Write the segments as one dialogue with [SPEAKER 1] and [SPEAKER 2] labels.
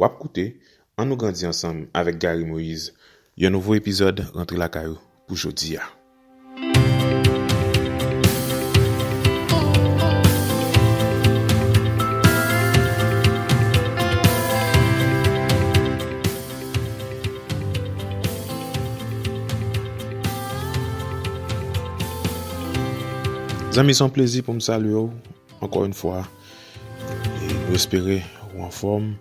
[SPEAKER 1] Wap koute An nou grandi ansanm avèk Garry Moïse, yon nouvo epizòd rantre lakay ou pou jodi a. Zanmi se yon plezi pou m salye w ankò yon fwa. Nou espere ou anfòm.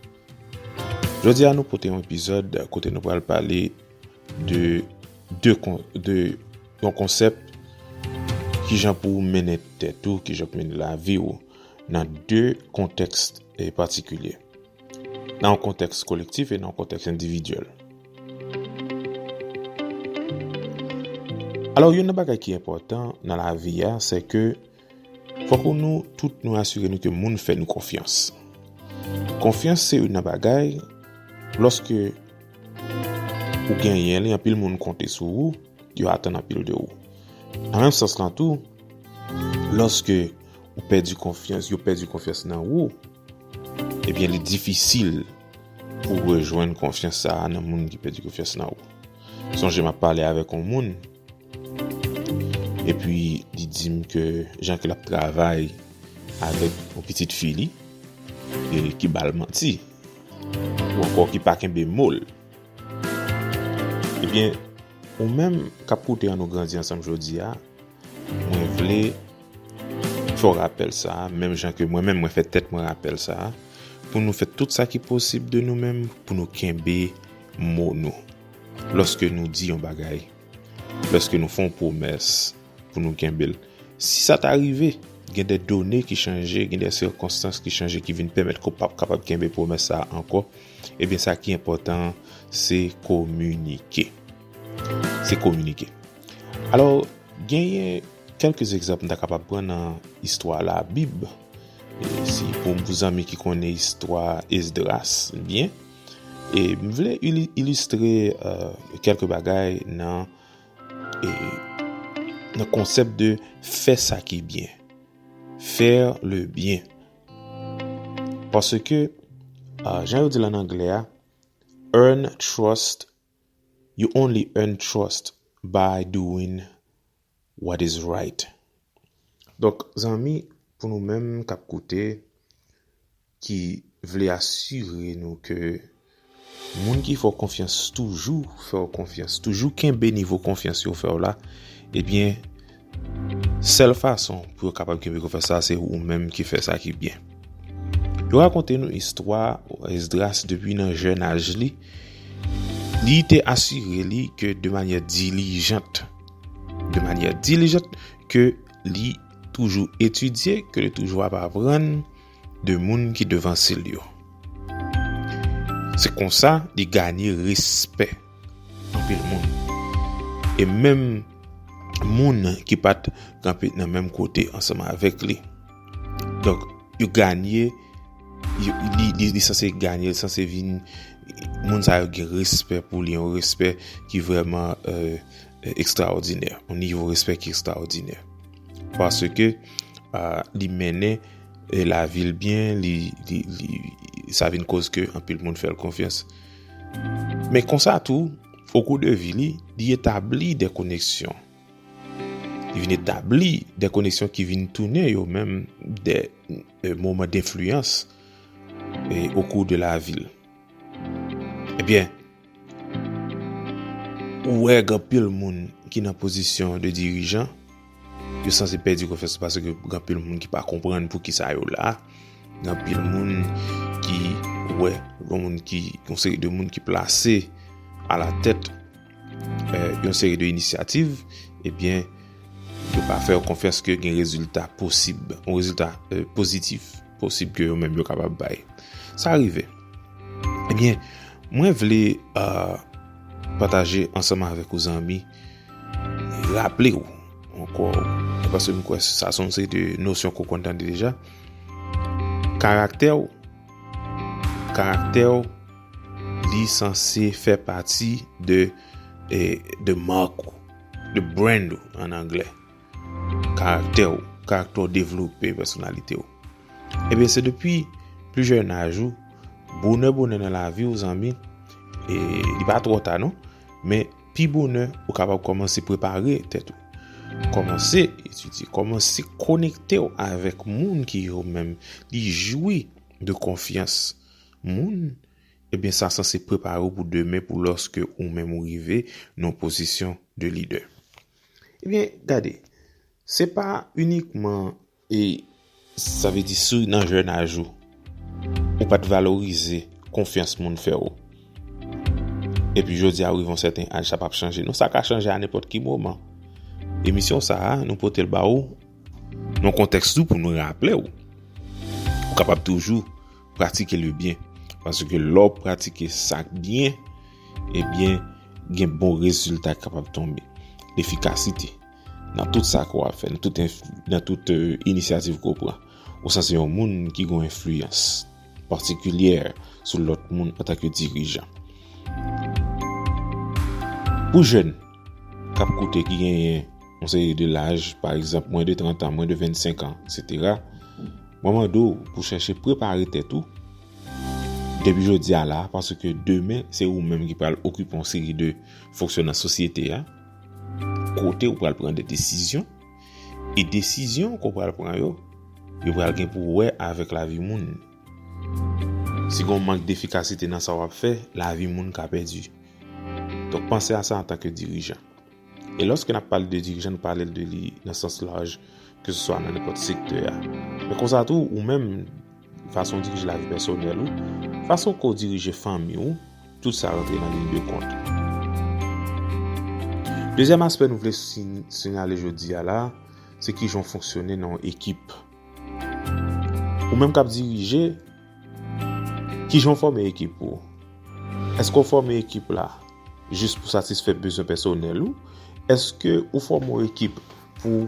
[SPEAKER 1] Jodi a nou pote yon epizòd kote nou pral pale de yon konsèp ki jan pou mennen tèt ou, ki jan pou mennen lavi ou nan de kontèks patikilye. Nan yon kontèks kolektif e nan yon kontèks endividyèl. Alò yon nan bagay ki enpòtan nan lavi a se ke Fòk ou nou tout nou asire nou ke moun fè nou konfyans. Konfyans se youn nan bagay, lòske ou genyen li, anpil moun konte sou ou, yo atann anpil de ou. Nan menm sans lan tou, lòske ou pèdi konfyans, yo pèdi konfyans nan ou, ebyen li difisil pou rejwenn konfyans sa a nan moun ki pèdi konfyans nan ou. Sonje m ap pale avèk yon moun, Epi li di m ke jan ke l ap travay avèk yon pitit fi li e ki ba l manti ou ankò ki pa kenbe mo l. Ebyen, ou menm k ap koute An Nou Grandi Ansanm jodi a, mwen vle fè w rapèl sa a, menm jan ke mwen menm mwen fè tèt mwen rapèl sa a, pou nou fè tout sa ki posib de nou menm pou nou kenbe mo nou. Lòske nou di yon bagay, lòske nou fè yon pwomès pou nou kenbe l, si sa ta rive gen de done ki chanje, gen de sikonstans ki chanje ki vin pèmèt ke w pap kapab kenbe pwomès sa a ankò, ebyen sa ki enpòtan an se kominike. Se kominike. Alò, genyen kèlke egzanp m ta kapab pran nan istwa Labib. Si pou zanmi ki konnen istwa Esdras byen. E m vle ilistre kelke bagay nan konsep de fè sa ki byen. Faire le bien. Paske, jan yo di lan angle a, earn trust, you only earn trust by doing what is right. Donk zanmi pou nou menm kap koute ki vle asire nou ke moun ki fè w konfyans toujou fè w konfyans, toujou kenbe nivo konfyans yo fè w la, ebyen sèl fason pou yo kapab kenbe konfyans sa se ou menm ki fè sa ki byen. Yo rakonte nou istwa Esdras depi nan jèn aj li, li te asire li ke de manyè dilijant, de manyè dilijant ke li toujou etidye, ke li toujou ap aprann de moun ki devanse l yo. Se konsa li ganye respè anpil moun. E menm moun ki pat kanpe nan menm kote ansanm avèk li. Donk, yo ganye, li sanse ganye, li sanse vin, moun sa yo gen respè pou li, yon respè ki vreman, eee, ekstraòdinè, yon nivo respè ki ekstraòdinè. Paske li mennen la vil byen, sa vin kòz ke anpil moun fèl konfyans. Men konsa tou, o kou de vi li, li etabli de koneksyon. Li vin etabli de koneksyon ki vin tounen yo menm de moman de fluyans o kou de la vil. Ebyen, Ou wè gen anpil moun ki nan pozisyon de dirijan, yo sanse pèdi konfyans paske gen anpil moun ki pa konprann pou kisa yo la. Gen anpil moun ki wè gen moun ki yon seri de moun ki plase a la tèt eh, yon seri de inisyativ, ebyen eh yo pa fè yo konfyans ke gen rezilta posib, yon rezilta eh, pozitif. posib ke yo menm yo kapab bay. Sa rive. Ebyen, eh mwen vle euh, pataje ansanm avèk ou zanmi, raple ou, ankò, paske mwen kwè sa son se de nosyon kou kontan de deja, karaktè ou, karaktè ou, li san se fè pati de, eh, de mark ou, de brand ou, an anglè. Karaktè ou, karaktè ou devlope pèsonalite ou. Ebyen se depi pli jèn aj ou, bonè bonè nan lavi ou zanmi, e li pa twò ta non, men pi bonè ou kapab kòmanse prepare tèt ou. Kòmanse etidye, kòmanse konekte ou avèk moun ki yo menm li jwi de konfyans moun, ebyen sa sanse prepare ou pou demen pou lòske ou menm ou rive nan pozisyon de lidè. Ebyen, gade, se pa inikman e sa vle di si nan jènaj ou, ou pa t valorize konfyans moun fè ou. Epi jodi a ou rive yon sèten aj sa pa p chanje non, sa ka chanje a nenpòt ki moman. Emisyon sa a, nou pote l ba ou nan kontèks tou pou nou raple ou, ou kapab toujou. Pratike le byen. Paske lè w pratike sa k byen, ebyen gen bon rezilta kapab tonbe. Efikasite. Nan tout sa ke w ap fè, nan tout inisyativ ke w pran. Ou san se yon moun ki gen enfliyans patikilyè sou lòt moun antanke dirijan. Pou jèn. Kap koute ki genyen yon seri de laj, pa egzanp mwen de 30 an, mwen de 25 an, eksetera. Mwen mande w pou chèche prepare tèt ou depi jodi a la, paske demen se ou menm ki pral okipe yon seri de fonksyon nan sosyete a, kote ou pral pran de desizyon, e desizyon ke w pral pran yo, yo pral gen pou wè avèk lavi moun. Si gen yon mank defikasite nan sa wap fè, lavi moun ka pèdi. Donk panse a sa antanke dirijan. E lòske nap pale de dirijan nou pale de li nan sans laj ke se swa nan nenpòt sektè a. Men konsa tou ou menm fason dirije lavi pèsonèl ou, fason ke w dirije fanmi w, tout sa rantre nan liy de kont. Dezyèm aspè nou vle sinyale jodi a la, se kijan w fonksyone nan yon ekip. Ou menm kap dirije. Kijan w fòme ekip ou? Èske w fòme ekip la jis pou satisfè bezwen pèsonèl ou? Èske ou fòme yon ekip pou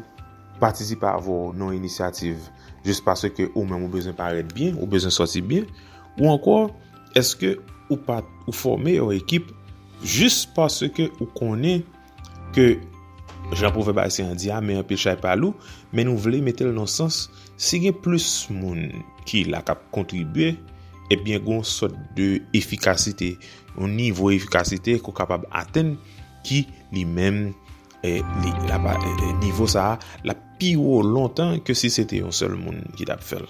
[SPEAKER 1] patisipe avè w nan yon inisyativ jis paske ou menm ou bezwen parèt byen, ou bezwen sòti byen? Ou ankò, èske ou fòme yon ekip jis paske ou konnen Ke jan pwovèb ayisyen an di a, men anpil chay pa lou, men nou vle mete l nan sans, si gen plis moun ki la k ap kontribye, ebyen gen yon sòt de efikasite, yon nivo efikasite ke w kapab atenn ki li menm, nivo sa a, l ap pi wo lontan ke si se te yon sèl moun ki t ap fè l.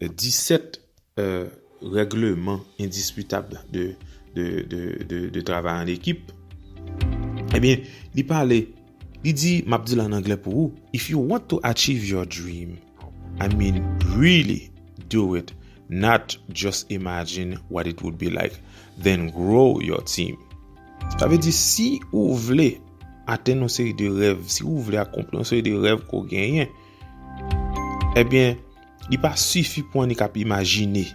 [SPEAKER 1] 17 règleman endisputab de travay an ekip, ebyen, li pale, li di, m ap di l an anglè pou ou, If you want to achieve your dream, I mean really do it, not just imagine what it would be like, then grow your team. Sa vle di, si ou vle atenn yon seri de rèv, si ou vle akonpli yon seri de rèv ke w genyen, ebyen, Li pa sifi pou annik ap imajine.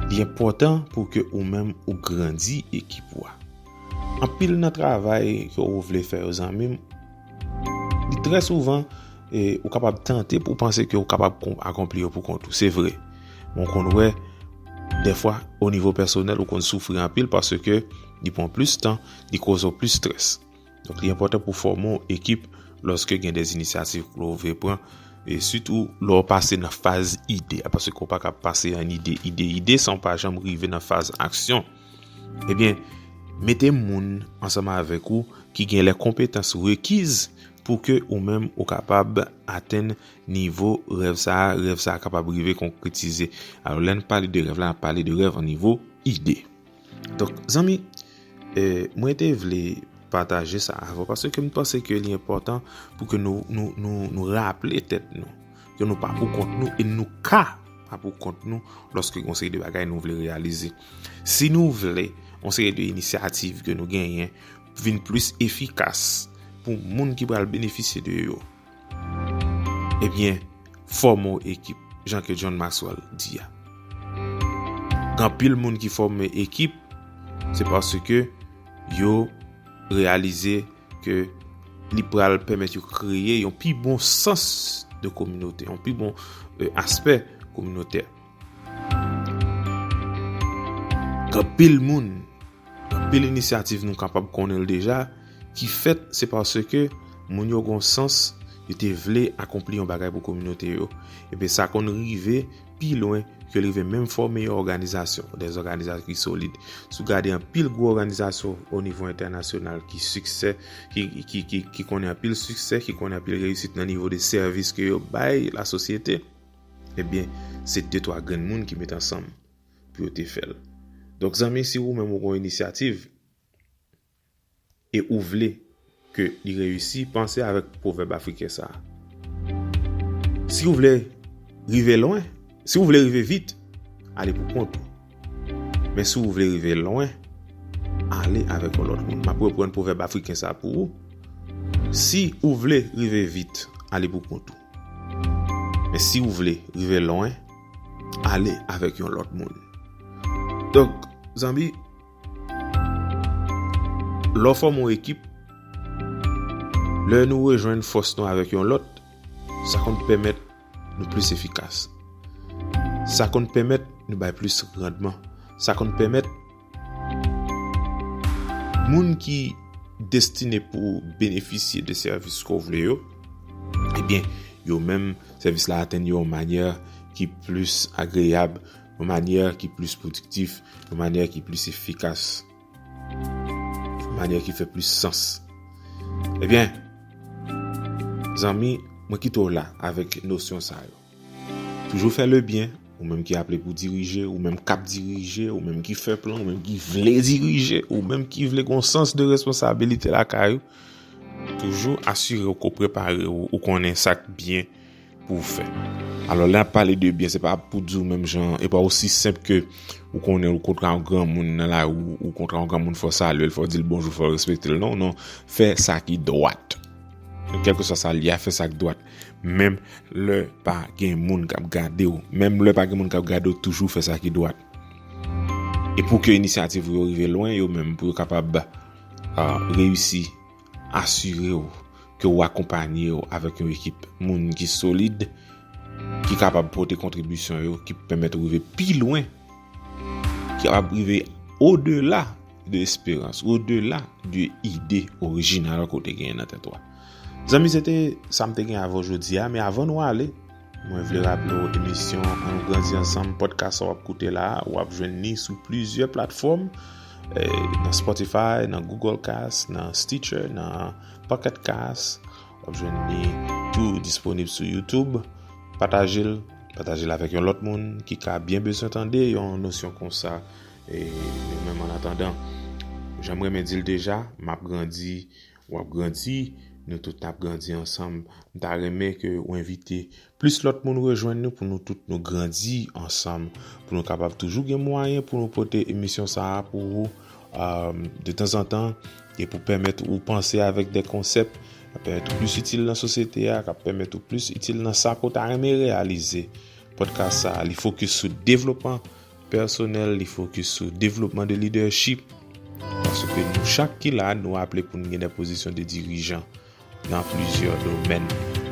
[SPEAKER 1] Li enpòtan pou ke ou menm ou grandi ekip ou a. Anpil nan travay ke ou vle fè yo zanmim, li trè souvan ou kapab tante pou panse ke ou kapab akonpli yo pou kont ou. Se vre, men ou konn wè defwa o nivo pèsonèl ou konn soufri anpil paske li pran plis tan, li koz ou plis strès. Donk li enpòtan pou fòme yon ekip lòske gen de inisyativ pou ou vle pran e sitou lò ou pase nan faz ide a paske ou pa ka pase an ide ide ide san ou pa janm rive nan faz aksyon ebyen mete moun ansanm avèk ou ki gen lè konpetans rekiz pou ke ou menm ou kapab atenn nivo rèv sa a, rèv sa a kapab rive konkretize. Alò lè n pale de rèv la, n ap pale de rèv an nivo ide. Donk zanmi, mwen te vle pataje sa avè w paske m panse ke li enpòtan pou ke nou raple tèt nou ke nou pa pou kont nou e nou ka pa pou kont nou lòske yon seri de bagay nou vle reyalize. Si nou vle yon seri de inisyativ ke nou genyen vin plis efikas pou moun ki pral benefisye de yo. Ebyen, fòme w ekip, jan ke John Maxwell di a. Gen anpil moun ki fòme ekip, se paske yo reyalize ke li pral pèmèt yo kreye yon pi bon sans de kominote, yon pi bon aspè kominotè. Gen anpil moun, gen anpil inisyativ nou kapab konnen l deja ki fèt se paske moun yo gen yon sans yo te vle akonpli yon bagay pou kominote yo. Ebyen sa konn rive pi lwen ke l rive menm fòme yon òganizasyon, dè zòganizasyon ki solid. Si w gade anpil gwo òganizasyon o nivo entènasyonal ki siksè, ki konnen anpil siksè, ki konnen anpil reyisit nan nivo de sèvis ke yo bay lasosyete, Ebyen se de twa grenn moun ki met ansanm pou yo te fèl. Donk zanmi si ou menm ou gon inisyativ e ou vle ke li reyisi panse avèk pwovèb afriken sa. Si ou vle rive lwen, si ou vle rive vit, ale pou kont ou. Men si w vle rive lwen, ale avèk yon lòt moun. M ap reprann pwovèb afriken sa pou ou, Si ou vle rive vit, ale pou kont ou. Men si ou vle rive lwen, ale avèk yon lòt moun. Donk, zanmi, lè w fòme yon ekip, lè nou rejwenn fòs nou avèk yon lòt, sa konn pèmèt. nou plis efikas. Sa konn pèmèt nou bay plis randman. Sa konn pèmèt moun ki destine pou benefisye de sèvis ke w vle yo, ebyen, yo menm sèvis la atenn yo yon manyè ki plis agreyab, yon manyè ki plis pwodiktif, yon manyè ki plis efikas. Manyè ki fè plis sans. Ebyen, zanmi, mwen kite w la avèk nosyon sa yo. Toujou fè lebyen, ou menm ki aple pou dirije, ou menm k ap dirije, ou menm ki fè plan, ou menm ki vle dirije, ou menm ki vle gon sans de responsabilite lakay ou. Toujou asire w ke w prepare w, ou konnen sa k byen. pou w fè. Alò lè n ap pale de byen se pa pou di w menm jan e pa osi senp ke ou konnen ou kontre yon granmoun nan lari ou kontre yon granmoun fò w salye l fò w di l bonjou fò w respekte l non non fè sa ki dwat kèlkeswa sa l ye a fè sa ki dwat menm lè pa gen moun k ap gade w menm lè pa gen moun k ap gade w toujou fè sa ki dwat e pou ke inisyativ ou yo rive lwen yo menm pou yo kapab reyisi. Asire w ke ou akonpanye w avèk yon ekip moun ki solid, ki kapab pote kontribisyon yo ki pèmèt ou rive pi lwen, ki kapab rive odela de esperans, odela de ide orijinal ke w te genyen nan tèt ou a. Zanmi se te sa m te gen avè w jodi a, men avan nou ale, Mwen vle raple w emisyon An nou grandi ansanm podcast sa w ap koute la a, w ap jwenn ni sou plizyè platfòm, nan Spotify, nan Google Cast, nan Stitcher, nan Pocket Cast, w ap jwenn ni tou disponib sou YouTube. Pataje l, pataje l avèk yon lòt moun ki ka byen bezwen tande yon nosyon konsa e nou menm an atandan. Jan m renmen di l deja, m ap grandi. Wap grandi, nou tout nap grandi ansanm. M ta renmen ke ou envite plis lòt moun rejwenn nou pou nou tout nou grandi ansanm. Pou nou kapab toujou gen mwayen pou nou pote emisyon sa a pou ou de tanzantan e pou pèmèt ou panse avèk de konsèp kap pèmèt ou plis itil nan sosyete a, kap pèmèt ou plis itil nan sa ke ou ta renmen reyalize. Podcast sa a li fokis sou devlopman Pèsonèl li fokis sou devlopman de lidèchip paske nou chak ki la nou aple pou n gen de pozisyon de dirijan nan plizyè domèn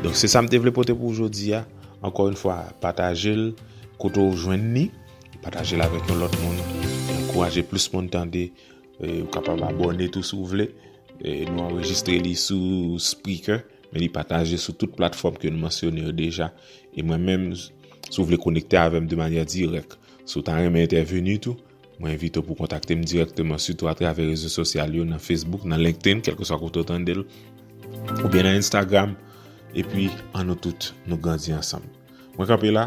[SPEAKER 1] donk se sa m te vle pote pou w jodi a ankò yon fwa pataje l kote w jwenn ni pataje l avèk yon lòt moun ankouraje plis moun tande ou kapab abòne tou si w vle nou anrejistre li sou Spreaker. Men li pataje sou tout platfòm ke nou mansyone yo deja. E mwen menm, si w vle konekte avè m de manyè dirèk, si w ta renmen entèveni tou, mwen envite w pou kontakte m dirèkteman sitou atravè rezo sosyal yo nan Facebook, nan LinkedIn, kèlkeswa kote w tande l, oubyen nan Instagram. Epi, an nou tout, nou grandi ansanm. Mwen kanpe la.